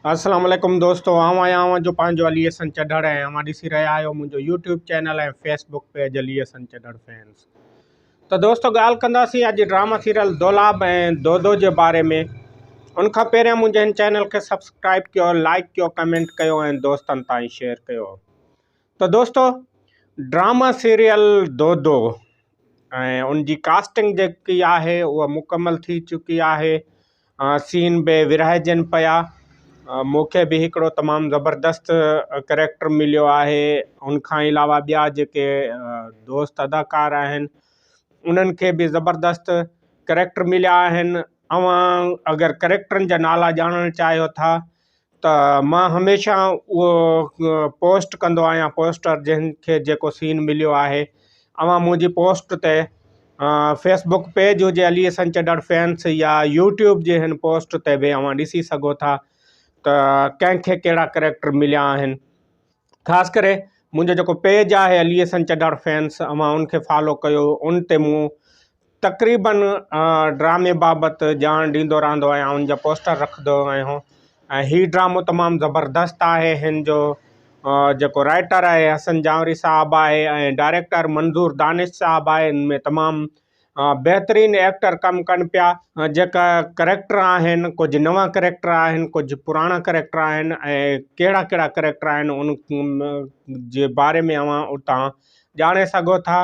السلام عليڪم دوستو آئون آهيان اوهان جو پنهنجو علي حسن چڍڙ ۽ اوهان ڏسي رهيا آهيو منهنجو YouTube channel ۽ Facebook page Ali Hassan Chadhar fans ته دوستو ڳالهه ڪنداسين اڄ ڊراما سيريل دولاب ۽ دودو جي باري ۾ ان کان پهريان منهنجي هن چينل کي سبسڪرائب ڪيو لائڪ ڪيو ڪمينٽ ڪيو ۽ دوستن تائين شيئر ڪيو ته دوستو ڊراما سيريل دودو ۽ ان جي ڪاسٽنگ جيڪي آهي اها مڪمل ٿي چڪي آهي سين به ورهائجن پيا. مون کي به هڪڙو تمام زبردست ڪريڪٽر مليو آهي ان کان علاوه ٻيا جيڪي دوست اداڪار آهن انهن کي به زبردست ڪريڪٽر مليا آهن اوهان اگر ڪريڪٽرن جا نالا ڄاڻڻ چاهيو ٿا ته مان هميشه اهو پوسٽ ڪندو آهيان پوسٽر جنهن کي جيڪو سين مليو آهي اوهان منهنجي پوسٽ تي فيس بڪ پيج هجي علي حسن چڏڙ فينس يا يوٽيوب جي هن پوسٽ تي به اوهان ڏسي سگهو ٿا ته ڪنهن کي ڪهڙا ڪريڪٽر مليا آهن خاص ڪري منهنجو جيڪو پيج آهي علي حسن چڏڙ فينس اوهان ان کي فالو ڪيو ان تي مون تقريباً ڊرامي بابت ڄاڻ ڏيندو رهندو آهيان ان جا پوسٽر رکندو آهيان ۽ هي ڊرامو تمام زبردست آهي هن جو جيڪو رائيٽر آهي حسن جانوري صاحب آهي ۽ ڊائريڪٽر منظور دانش صاحب آهي ان ۾ تمام بهترين ايڪٽر ڪم ڪن پيا جيڪا ڪريڪٽر آهن ڪجهه نوان ڪريڪٽر آهن ڪجهه پراڻا ڪريڪٽر آهن ۽ ڪهڙا ڪهڙا ڪريڪٽر آهن ان جي باري ۾ اوهان اتان ڄاڻي سگهو ٿا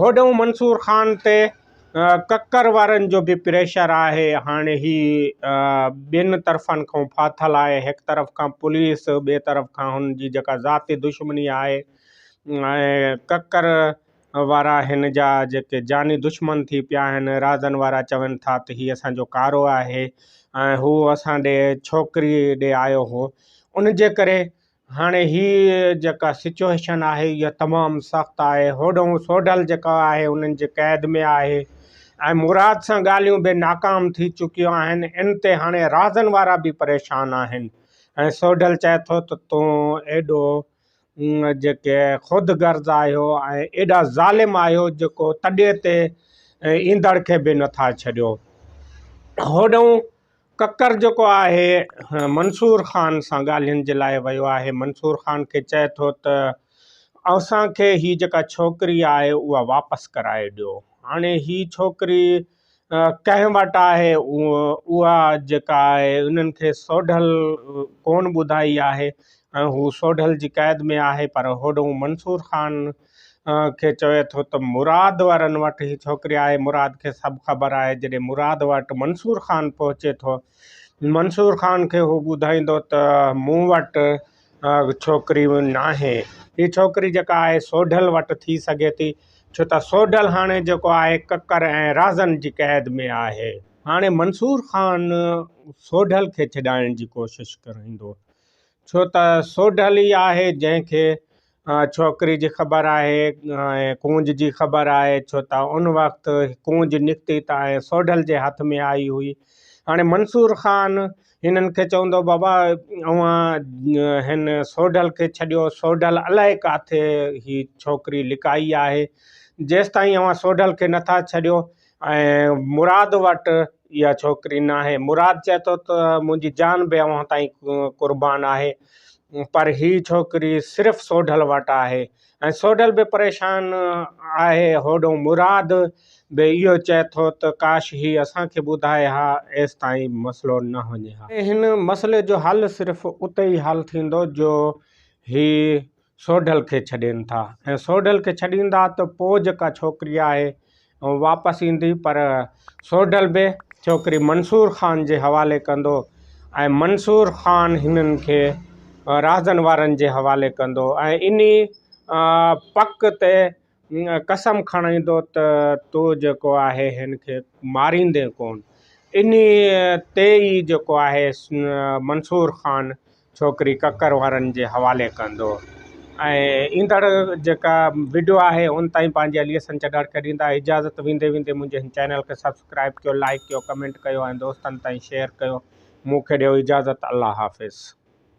هوڏهون منصور خان تي ڪڪر وارن جو به پريشر آهي. هاڻي هي ٻن طرفن کان ڦاٿل آهي. هڪ طرف کان پوليس، ٻئي طرف کان هن جي جيڪا ذاتي دشمني آهي ۽ ڪڪر وارا هن جا جيڪي جاني دشمن ٿي پيا آهن. رازن وارا چون ٿا ته هي اسان جو ڪارو آهي ۽ هو اسان ڏي ڇوڪري ڏي آيو هو. ان جي ڪري هاڻي هي جيڪا سچوئيشن آهي اها تمام سخت آهي هوڏهون سوڍل جيڪا آهي انهن جي قيد ۾ آهي ۽ مراد سان ڳالهيون به ناڪام ٿي چڪيون آهن ان تي هاڻي رازن وارا به پريشان آهن ۽ سوڍل چئي ٿو ته تون ايڏو جيڪي خود غرض آهيو ۽ ايڏا ظالم آهيو جيڪو تڏي تي ايندڙ کي به نٿا ڇڏيو هوڏهون ڪڪر جيڪو آهي منصور خان سان ڳالهين جي لاء ويو آهي منصور خان کي چئي ٿو ته اوسان کي هي جيڪا ڇوڪري آهي اها واپس ڪرائي ڏيو هاڻي هي ڇوڪري ڪنهن وٽ آهي اها جيڪا آهي انهن کي سوڍل ڪون ٻڌائي آهي ۽ هو سوڍل جي قيد ۾ آهي پر هوڏو منصور خان کي چوي ٿو ته مراد وارن وٽ هي ڇوڪري آهي، مراد کي سڀ خبر آهي، جڏهن مراد وٽ منصور خان پهچي ٿو، منصور خان کي هو ٻڌائيندو ته مون وٽ ڇوڪري ناهي، هي ڇوڪري جيڪا آهي سوڍل وٽ ٿي سگهي ٿي، ڇو ته سوڍل هاڻي جيڪو آهي ڪڪر ۽ رازن جي قيد ۾ آهي. هاڻي منصور خان سوڍل کي ڇڏائڻ جي ڪوشش ڪريندو، ڇو ته سوڍل ئي آهي جنهن کي ڇوڪري جي خبر آهي ۽ ڪونج جي خبر آهي ڇو ته ان وقت ڪونج نڪتي ته ۽ سوڍل جي هٿ ۾ آئي هئي هاڻي منصور خان هنن کي چوندو بابا اوهان هن سوڍل کي ڇڏيو سوڍل الائي ڪاٿي هي ڇوڪري لڪائي آهي جيستائين اوهان سوڍل کي نٿا ڇڏيو ۽ مراد وٽ اها ڇوڪري ناهي. مراد چئي ٿو ته منهنجي جان به اوهان تائين قربان آهي پر هي ڇوڪري صرف سوڍل وٽ آهي ۽ سوڍل به پريشان آهي. هوڏون مراد به اهو چئي ٿو ته ڪاش هي اسان کي ٻڌائي ها ايستائين مسئلو نه وڃي ها. هن مسئلي جو حل صرف اتي ئي حل ٿيندو جو هي سوڍل کي ڇڏين ٿا ۽ سوڍل کي ڇڏيندا ته پوء جيڪا ڇوڪري آهي اهو واپس ايندي پر سوڍل به ڇوڪري منصور خان جي حوالي ڪندو ۽ منصور خان هنن کي راهزن وارن جي حوالي ڪندو ۽ انهي پڪ تي قسم کڻيندو ته تو جيڪو آهي هن کي ماريندين ڪونه. انهيء تي ئي جيڪو آهي منصور خان ڇوڪري ڪڪر وارن جي حوالي ڪندو ۽ ايندڙ جيڪا وڊيو آهي ان تائين پنهنجي علي حسن چنڙ کي ڏيندا اجازت ويندي ويندي منهنجي هن چينل کي سبسڪرائب ڪيو لائيڪ ڪيو ڪمينٽ ڪيو ۽ دوستن تائين شيئر ڪيو مون کي ڏيو اجازت الله حافظ.